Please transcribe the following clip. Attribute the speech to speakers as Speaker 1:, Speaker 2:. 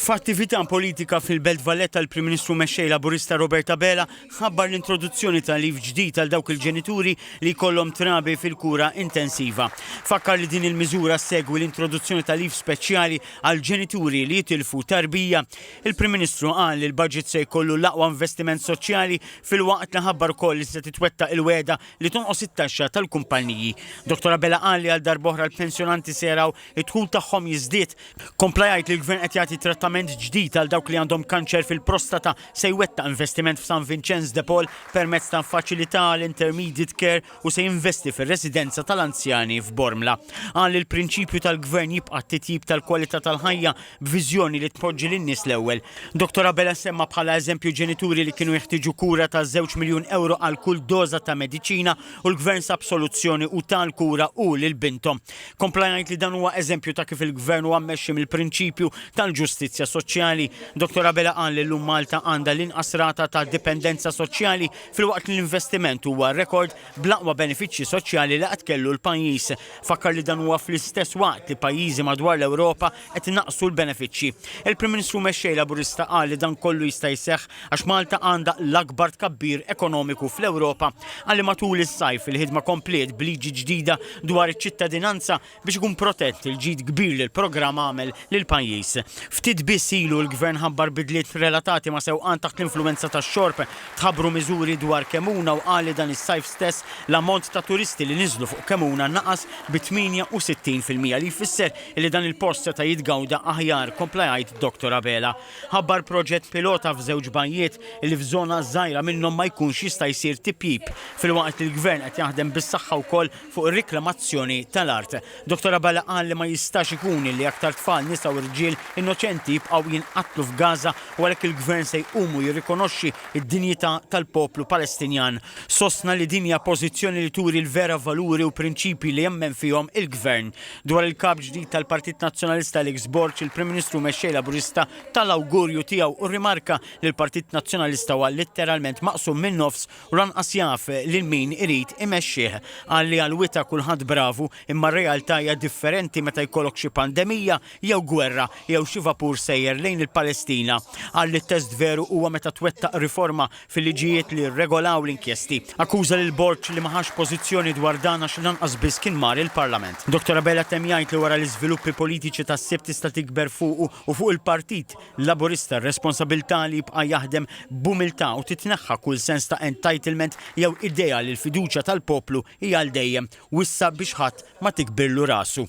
Speaker 1: F'attività politika fil-Belt Valletta l-Prim Ministru Mexxej Laburista Robert Abela ħabbar l-introduzzjoni ta' leave ġdid għal dawk il-ġenituri li jkollhom trabi fil-kura intensiva. Fakkar li din il-miżura ssegwi l-introduzzjoni ta' leave speċjali għal ġenituri li jitilfu tarbija. Il-Prim Ministru qal li l-budget se jkollu l-aqwa investiment soċjali filwaqt li ħabbar ukoll li se titwettaq il-wegħda li tonqos it-taxxa tal-kumpanniji. Dottor Abela qal li għal darb'oħra l-pensjonanti se jaraw id-dħul tagħhom jiżdied. Kompla jgħid li l-Gvern qed jagħti trattament ġdid għal dawk li għandhom kanċer fil-prostata, se jwettaq investiment f'San Vinċenz de Paul permezz ta' faċilità għal intermediate care u se jinvesti fir-residenza tal-anzjani f'Bormla. Qal li l-prinċipju tal-Gvern jibqa' t-titjib tal-kwalità tal-ħajja b'viżjoni li tpoġġi lin-nies l-ewwel. Dottor Abela semma bħala eżempju ġenituri li kienu jeħtieġu kura ta' żewġ miljun ewro għal kull doża ta' mediċina u l-Gvern sab soluzzjoni u ta l-kura hu lil binthom. Kompla jgħid li dan huwa eżempju ta' kif il-Gvern huwa mmexxi mill-prinċipju tal-ġustizzja soċjali. Dottor Abela qal li llum Malta għandha l-inqas rata ta' dipendenza soċjali filwaqt li l-investiment huwa rekord bl-aqwa benefiċċji soċjali li qatt kellu l-pajjiż. Fakkar li dan huwa fl-istess waqt li pajjiżi madwar l-Ewropa qed inaqqsu l-benefiċċji. Il-Prim Ministru Mexxej Laburista qal li dan kollu jista' jseħħ għax Malta għandha l-akbar tkabbir ekonomiku fl-Ewropa. Qal li matul is-sajf il-ħidma kompliet b'liġi ġdida dwar iċ-ċittadinanza biex ikun protett il-ġid kbir li l-programm għamel lill-pajjiż. Ftit biss ilu l-Gvern ħabbar bidliet relatati ma' sewqan taħt l-influwenza tax-xorb, tħabbru miżuri dwar Kemuna u qal li dan is-sajf stess l-ammont ta' turisti li niżlu fuq Kemuna naqas bi 68 fil-mija li jfisser li dan il-post seta' jitgawda aħjar, kompla jgħid Dottor Abela. Ħabbar proġett pilota f'żewġ bajjiet li f'żona żgħira minnhom ma jkunx jista' jsir tipjip, filwaqt li l-Gvern qed jaħdem bis-saħħa wkoll fuq ir-riklamazzjoni tal-art. Dottor Abela qal li ma jistax ikun li aktar tfal, nisa u rġiel innoċenti jibqgħu jinqatlu f'Gaza u għalhekk il-Gvern se jqum u jirrikonoxxi d-dinjità tal-poplu Palestinjan. Sostna li din hija pożizzjoni li turi l-vera valuri u prinċipji li jemmen fihom il-Gvern. Dwar il-Kap ġdid tal-Partit Nazzjonalista Alex Borg, il-Prim Ministru Mexxej Laburista ta l-awgurju tiegħu u rrimarka li l-Partit Nazzjonalista huwa litteralment maqsum min-nofs u lanqas jaf lil min irid imexxih. Qal li għal-wita kulħadd bravu imma r-realtà hija differenti meta jkollok xi pandemija jew gwerra jew xi vapur sejjer lejn il-Palestina. Qal li t-test veru huwa meta twettaq riforma fil-liġijiet li rregolaw l-inkjesti. Akkuża lil Borg li ma ħax pożizzjoni dwar dan għax lanqas biss kien mar il-Parlament. Dottor Abela temm jgħid li wara l-iżviluppi politiċi tas-Sibt tista' tikber fuqu u fuq il-Partit Laburista r-responsabilità li jibqa' jaħdem b'umiltà u titneħħa kull sens ta' entitlement jew idea li l-fiduċja tal-poplu hi għal dejjem u issa biex ħadd ma tikbirlu rasu.